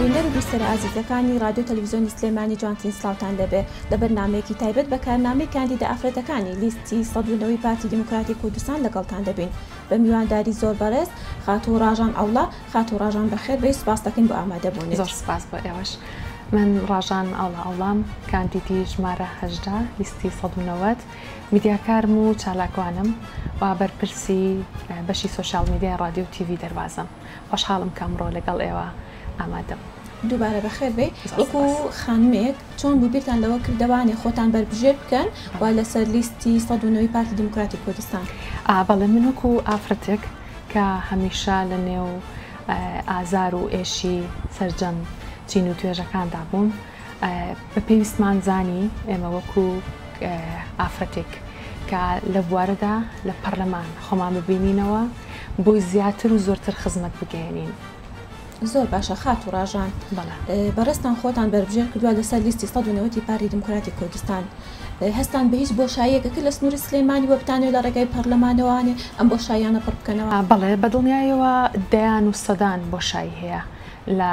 بینەر و بیسەرە ئازیزەکانی ڕادیۆ تەلەفزیۆنی سلێمانی جوانترین سڵاوتان لێبێ لە بەرنامەیەکی تایبەت بە کارنامەی کاندیدە ئافرەتەکانی لیستی سەد و نۆی پارتی دیموکراتی کوردستان لەگەڵتان دەبین بە میوانداری زۆر بەڕێز خاتوو ڕاژان ئەڵڵا خاتوو ڕاژان بەخێر بێی سوپاس دەکەین بۆ ئامادە بوونت. زۆر سوپاس بۆ ئێوەش من ڕاژان ئەڵڵا ئەڵڵام کاندیدی ژمارە هەژدە لیستی سەد و نەوەد میدیاکارم و چالاکوانم و بەرپرسی بەشی سۆشیاڵ میدیای ڕادیۆ و تیڤی دەروازەم خۆشحاڵم کە ئەمڕۆ لەگەڵ ئێوە ئامادەم. دووبارە بەخێر بێی وەکو خانمێک چۆن بوو بیرتان لەوە کرد دەوانێ خۆتان بەربژێر بکەن و لەسەر لیستی سەد و نۆی پارتی دیموکراتی کوردستان؟ بەڵێ من وەکو ئافرەتێک کە هەمیشە لە نێو ئازار و ئێشی سەرجەم چین و توێژەکاندا بووم، بە پێویستمان زانی ئێمە وەکو ئافرەتێک کە لە بوارەدا لە پەرلەمان خۆمان ببینینەوە بۆی زیاتر و زۆرتر خزمەت بگەێنین زۆر باشە خات و ڕژان بەڕێستان خۆتان بەربژێر کردووە لەسەر لیستی 1970 پاری دموکراتی کوردستان هەستان بە هیچ بۆ شایەکەکە لە سنووری سلێمانی وەبتانێ لە ڕێگای پەرلەمانەوانێ ئەم بۆ شایانە پڕ بکەنەوە بەڵێ بەدڵنیایەوە دەیان و سەدان بۆ شای هەیە لە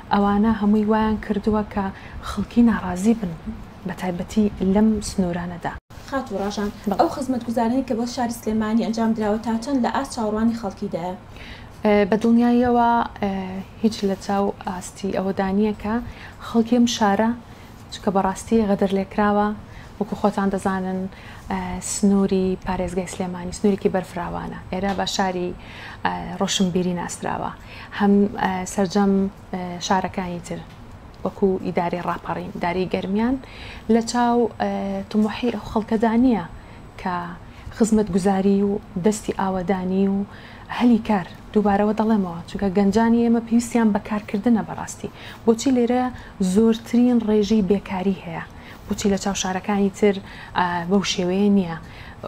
ئەوانە هەمووی وایان کردووە کە خەڵکی ناڕازی بن بە تایبەتی لەم سنوورانەدا. خاتوو ڕاژان، ئەو خزمەتگوزارنەی کە بۆ شاری سلێمانی ئەنجام دراوە تا چەند لە ئاست چاوەڕوانی خەڵکیدایە؟ بە دڵنیاییەوە هیچ لە چاو ئاستی ئەوەدا نییە کە خەڵکی ئەم شارە، چونکە بەڕاستی غەدر لێکراوە، وەکو خۆتان دەزانن سنوری پارێزگای سلێمانی سنورێکی بەرفراوانە، ئێرە بە شاری ڕۆشنبیری ناسراوە، هەم سەرجەم شارەکانی تر وەکو ئیدارەی ڕاپەڕین داری گەرمیان لە چاو تمحی ئەو خەڵکەدا نییە کە خزمەت گوزاری و دەستی ئاوەدانی و هەلی کار دووبارەوە دەڵێمەوە چونکە گەنجانی ئێمە پێویستیان بە کارکردنە بەڕاستی بۆچی لێرە زۆرترین ڕێژەی بێکاری هەیە، بۆچی لە چاو شارەکانی تر بەو شێوەیە نییە؟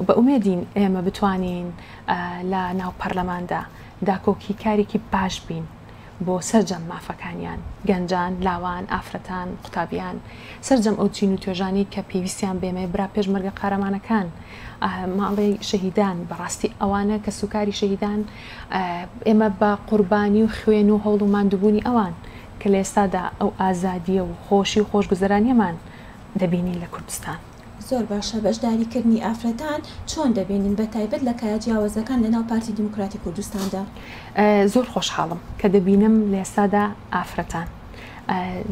بە ئومێدین ئێمە بتوانین لە ناو پەرلەماندا داکۆکی کارێکی باش بین بۆ سەرجەم مافەکانیان، گەنجان، لاوان، ئافرەتان، قوتابیان، سەرجەم ئەو چین و توێژانەی کە پێویستیان بەێمەیە، برا پێشمەرگە قارەمانەکان، ماڵێ شەهیدان، بەڕاستی ئەوانە کەسوکاری شەهیدان، ئێمە بە قوربانی و خوێن و هەوڵ و ماندوبوونی ئەوان. کە لە ئێستادا ئەو ئازادییە و خۆشی و خۆشگوزەرانییەمان دەبینین لە کوردستان. زۆر باشە بەشداریکردنی ئافرەتان چۆن دەبینن بە تایبەت لە کایە جیاوەزەکان لەناو پارتی دیموکراتی کوردستاندا؟ زۆر خۆشحاڵم کە دەبینم لە ئێستادا ئافرەتان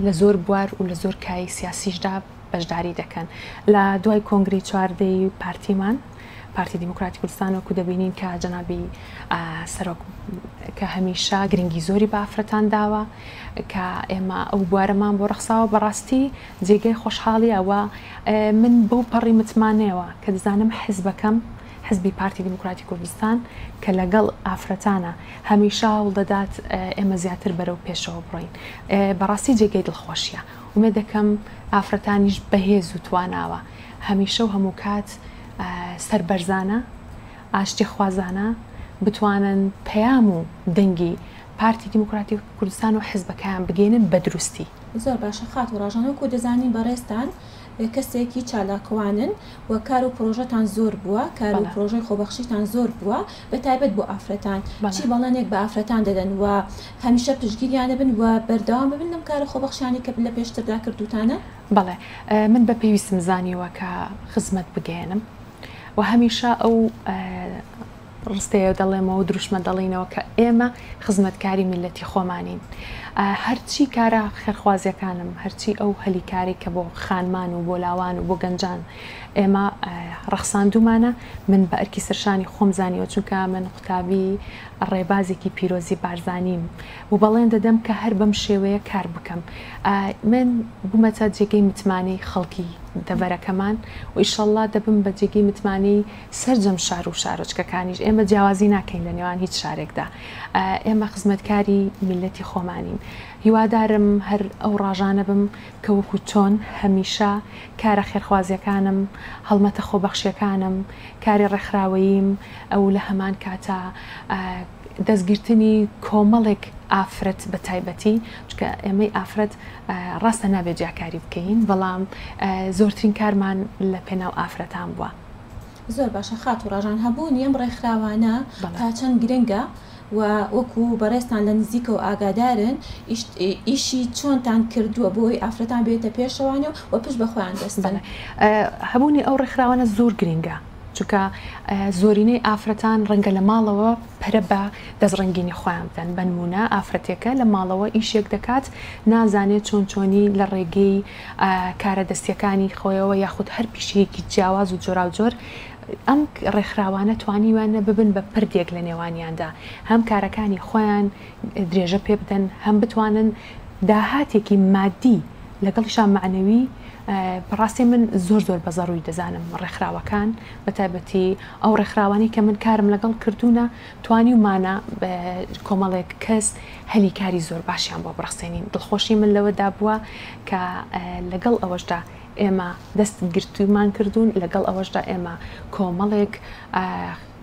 لە زۆر بوار و لە زۆر کایەی سیاسیشدا بەشداری دەکەن لە دوای کۆنگری چواردەی پارتیمان پارتی دیموکراتی کوردستان وەکو دەبینین کە جەنابی سەرۆک کە هەمیشە گرنگی زۆری بافرەتان داوە کە ئێمە ئەو بوارەمان بۆ ڕخساوە بەڕاستی جێگەی خۆشحاڵیە و من بەو پەڕی متمانەوە کە دەزانم حزبەکەم حزبی پارتی دیموکراتی کوردستان کە لەگەڵ ئافرەتانە هەمیشە هەوڵ دەدات ئێمە زیاتر بەرەو پێشەوە بڕۆین بەڕاستی جێگەی دڵخۆشیە ومێدەکەم ئافرەتانیش بەهێز و تواناوە هەمیشە و هەمووکات سەربەرزانە، ئاشتیخوازانە بتوانن پەیام و دەنگی پارتی دیموکراتی کوردستان و حزبەکەیان بگەینن بەدروستی. زۆر باشە خاتو ڕاژان وەکو دەزانین بەڕێزتان کەسێکی چالاکوانن و کار و پرۆژەتان زۆر بووە، کار و بەڵێ. پرۆژەی خۆبەخشیتان زۆر بووە، بە تایبەت بۆ ئافرەتان، بەڵێ. چی بەڵێنێک بە ئافرەتان دەدەن و هەمیشە پشتگیریان دەبن و بەردەوام دەبن لەم کارە خۆبەخشانەی کە لە پێشتردا کردووتانە؟ بەڵێ، من بە پێویستم زانیوە کە خزمەت بگەیەنم و هەمیشە ئەو ڕستەیە دەڵێمەوە دروشمە دەڵێینەوە کە ئێمە خزمەتکاری میلەتی خۆمانین هەرچی کارە خێرخوازیەکانم هەرچی ئەو هەلی کاری کە بۆ خانمان و بۆ لاوان و بۆ گەنجان ئێمە ڕەخساندومانە من بە ئەرکی سەرشانی خۆم زانیوە چونکە من قوتابی ڕێبازێکی پیرۆزی بارزانیم و بەڵێن دەدەم کە هەر بەم شێوەیە کار بکەم من بوومەتە جێگەی متمانەی خەڵکی دەبەرەکەمان و ئیشەڵا دەبم بە جێگەی متمانەی سەرجەم شار و شارۆچکەکانیش، ئێمە جیاوازی ناکەین لە نێوان هیچ شارێکدا، ئێمە خزمەتکاری میللەتی خۆمانین، هیوادارم هەر ئەو ڕاژانە بم کە وەکو چۆن هەمیشە کارە خێرخوازیەکانم، هەڵمەتە خۆبەخشیەکانم، کاری ڕێکخراوەییم و لە هەمان کاتا دەستگرتنی کۆمەڵێک ئافرەت بە تایبەتی، چونکە ئێمەی ئافرەت ڕاستە نابێت جیاکاری بکەین، بەڵام زۆرترین کارمان لە پێناو ئافرەتان بوە. زۆر باشە خاتو ڕاژان هەبوونی ئەم ڕێکخراوانە تا چەند گرنگە و وەکو بەڕێزتان لە نزیکەوە ئاگادارن ئیشی چۆنتان کردووە بۆی ئافرەتان بێتە پێشەوانێ و پشت بەخۆیان بەستن هەبوونی ئەو ڕێکخراوانە زۆر گرنگە چونکە زۆرینەی ئافرەتان ڕەنگە لە ماڵەوە پرە بە دەستڕنگینی خۆیان بدەن بنمونە ئافرەتێکە لە ماڵەوە ئیشێک دەکات نازانێت چۆن چۆنی لە ڕێگەی کارە دەستیەکانی خۆیەوە یاخود هەر پیشەیەکی جیاواز و جۆراوجۆر، ئەم ڕێکخراوانە توانیویانە ببن بە پردێک لە نێوانیاندا هەم کارەکانی خۆیان درێژە پێبدەن هەم بتوانن داهاتێکی مادی لەگەڵیشا مەعنەوی بەڕاستی من زۆر زۆر بە زەڕووی دەزانم ڕێکخراوەکان بە تایبەتی ئەو ڕێکخراوانەی کە من کارم لەگەڵ کردوونە توانیومانە کۆمەڵێک کەس هەلی کاری زۆر باشیان بۆ بڕەخسێنین، دڵخۆشی من لەوەدا بووە کە لەگەڵ ئەوەشدا ئێمە دەستگرتوویمان کردوون، لەگەڵ ئەوەشدا ئێمە کۆمەڵێک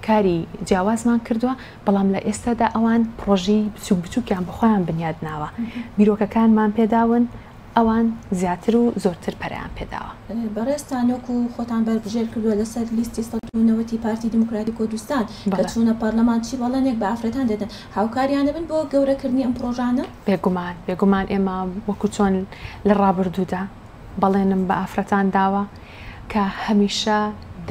کاری جیاوازمان کردووە، بەڵام لە ئێستادا ئەوان پڕۆژەی بچووک بچووکیان بە خۆیان بنیاد ناوە، بیرۆکەکانمان پێداون، ئەوان زیاتر و زۆرتر پەرەیان پێداوە. بەڕێزتان وەکو خۆتان بەربژێر کردووە لەسەر لیستی سەد و نەوەد ی پارتی دیموکراتی کوردستان کە چوونە پارلەمان چی بەڵێنێک بە ئافرەتان دەدەن هاوکاریان ئەبن بۆ گەورە کردنی ئەم پڕۆژانە؟ بێگومان بێگومان ئێمە وەکو چۆن لە ڕابردوودا بەڵێنم بە ئافرەتان داوە کە هەمیشە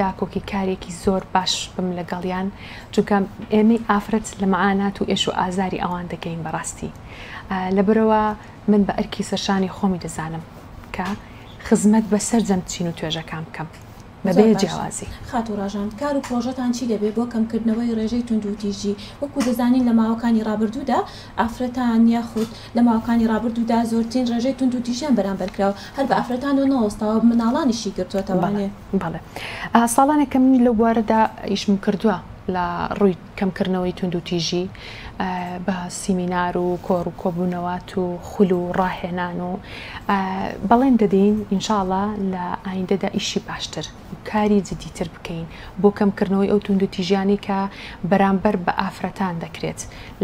داکۆکی کارێکی زۆر باش بم لەگەڵیان چونکە ئێمەی ئافرەت لە مەعانات و ئێش و ئازاری ئەوان دەگەین بەڕاستی لەبەرەوە من بە ئەرکی سەرشانی خۆمی دەزانم کە خزمەت بە سەرجەم چین و توێژەکان بکەم بە زۆر بێ باش جیاوازی. خاتوو ڕاژان، کار و پڕۆژەتان چی دەبێت بۆ کەمکردنەوەی ڕێژەی توندوتیژی؟ وەکو دەزانین لە ماوەکانی ڕابردوودا ئافرەتان یاخود لە ماوەکانی ڕابردوودا زۆرترین ڕێژەی توندوتیژیان بەرامبەر کرا و هەر بە ئافرەتانەوە نەوەستاوە مناڵانیشی گرتووەتەوە. بەڵێ بەڵێ ساڵانێکە من لەو بوارەدا ئیشم کردووە لە ڕووی. کەمکردنەوەی توندوتیژی بە سیمینار و کۆڕ و کۆبوونەوات و خول و ڕاهێنان و بەڵێن دەدەین ان شاء اللە لە ئایندەدا ئیشی باشتر و کاری جدیتر بکەین بۆ کەمکردنەوەی ئەو توندوتیژیانەی کە بەرامبەر بە ئافرەتان دەکرێت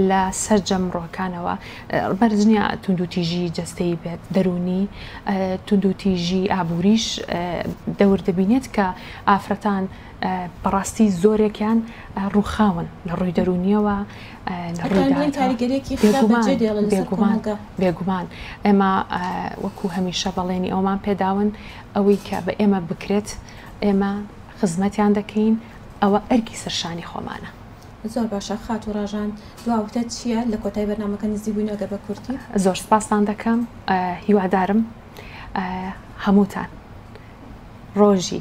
لە سەرجەم ڕوەکانەوە بەرز نیە توندوتیژی جەستەیی بێت دەروونی توندوتیژی ئابووریش دەور دەبینێت کە ئافرەتان بەڕاستی زۆرێکیان ڕووخاون لە ڕووی دەرونیەوە بێگومان ئێمە وەکو هەمیشە بەڵێنی ئەومان پێداون ئەوەی کە بە ئێمە بکرێت ئێمە خزمەتیان دەکەین ئەوە ئەرکی سەرشانی خۆمانە زۆر باشە خات و ڕژان دواوتە چییە لە کۆتای بەنامەکە نزی بووین ئەگەر بە کورتی زۆر سپاسان دەکەم هیوادارم هەمووتان ڕۆژی